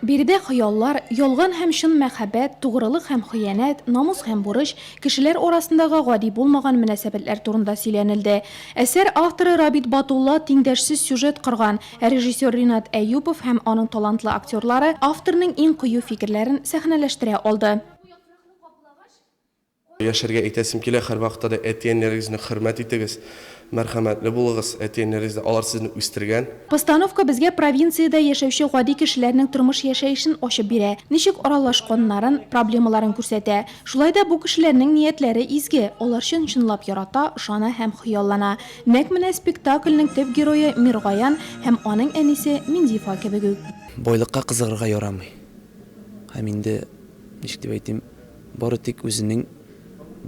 Биредә хыяллар, ялган һәм чын мәхәббәт, тугрылык һәм хыянәт, намус һәм бурыч, кешеләр арасындагы гади булмаган мөнәсәбәтләр турында сөйләнелде. Әсәр авторы Рабит Батулла тиңдәшсез сюжет корган, ә режиссер Ринат Әюпов һәм аның талантлы актерлары авторның иң кыю фикерләрен сәхнәләштерә алды. Яшәргә әйтәсем килә, һәрвакытта да әти-әниләрегезне хөрмәт итегез, мәрхәмәтле булыгыз, әти-әниләрегез дә алар сезне үстергән. Постановка безгә провинциядә яшәүче гади кешеләрнең тормыш-яшәешен ачып бирә, ничек аралашканнарын, проблемаларын күрсәтә. Шулай да бу кешеләрнең ниятләре изге, алар чын-чынлап ярата, ышана һәм хыяллана. Нәкъ менә спектакльнең төп герое Миргаян һәм аның әнисе Минзифа кебек үк. Байлыкка кызыгырга ярамый. Һәм инде, ничек дип әйтим. Бары тик үзенең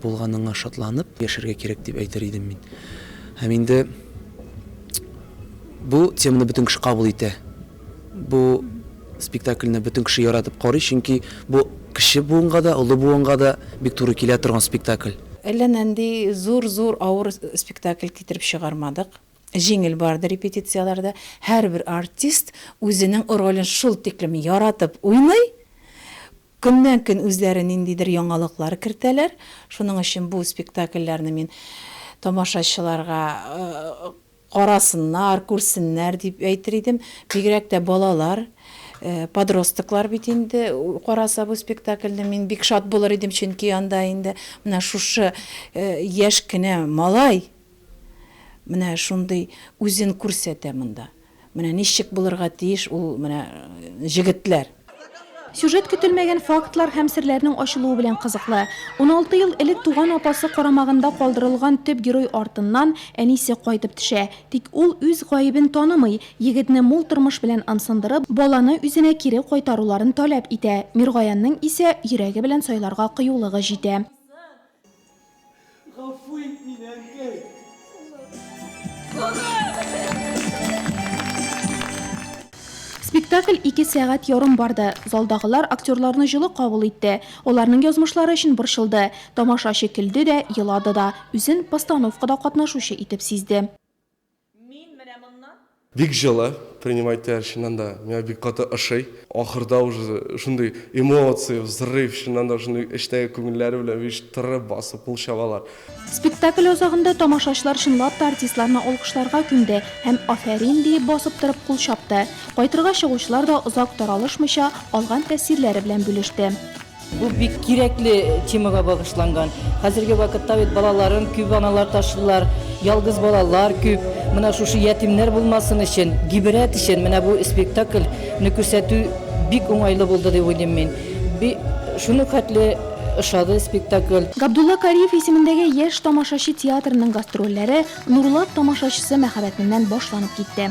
булганыңа шатланып яшәргә кирәк дип әйтер идем мин. Һәм инде бу теманы бөтен кеше кабул итә. Бу спектакльне бөтен кеше яратып карый, чөнки бу кече буынга да, олы буынга да бик туры килә торган спектакль. Әллә нәнди зур-зур авыр спектакль китереп чыгармадык. Җиңел барды репетицияләрдә. Һәрбер артист үзенең ролен шул тиклем яратып уйный, Көннән-көн үзләре ниндидер яңалыклар кертәләр, шуның өчен бу спектакльләрне мин тамашачыларга карасыннар, күрсеннәр дип әйтер идем. Бигрәк тә балалар, подростоклар бит инде караса бу спектакльне мин бик шат булыр идем, чөнки анда инде менә шушы яшь кенә малай менә шундый үзен күрсәтә монда. Менә ничек булырга тиеш ул менә җегетләр. Сюжет көтелмәгән фактлар һәм серләрнең ачылуы белән кызыклы. Уналты ел элек туган апасы карамагында калдырылган төп герой артыннан әнисе кайтып төшә. Тик ул үз гаебен танымый, егетне мул тормыш белән ымсындырып, баланы үзенә кире кайтаруларын таләп итә, Миргаянның исә йөрәге белән сайларга кыюлыгы җитә. Гафу ит мине, әнкәй! Спектакль ике сәгать ярым барды. Залдагылар актерларны җылы кабул итте. Аларның язмышлары өчен борчылды. Тамашачы көлде дә, елады да, үзен постановкада катнашучы итеп сизде. Мин менә моннан. Бик җылы, принимай тәр, чыннан да, миңа бик каты ошый. Ахырда уже шундый эмоция, взрыв, чыннан да шундый эчтәге күңелләре белән виш тырып басып кул чабалар. Спектакль азагында тамашачылар чынлап та артистларны алкышларга күмде һәм афәрин диеп басып торып кул чапты. Кайтырга чыгучылар да озак таралышмыйча алган тәэсирләре белән бүлеште. Бу бик кирәкле темага багышланган. Хәзерге вакытта бит балаларын күп аналар ташлыйлар, ялгыз балалар күп. Менә шушы ятимнәр булмасын өчен, гибрәт өчен менә бу спектакльне күрсәтү бик уңайлы булды дип уйлыйм мин. Би шуны хәтле ошады спектакль. Габдулла Кариев исемендәге Яшь тамашачы театрының гастрольләре Нурлат тамашачысы мәхәббәтеннән башланып китте.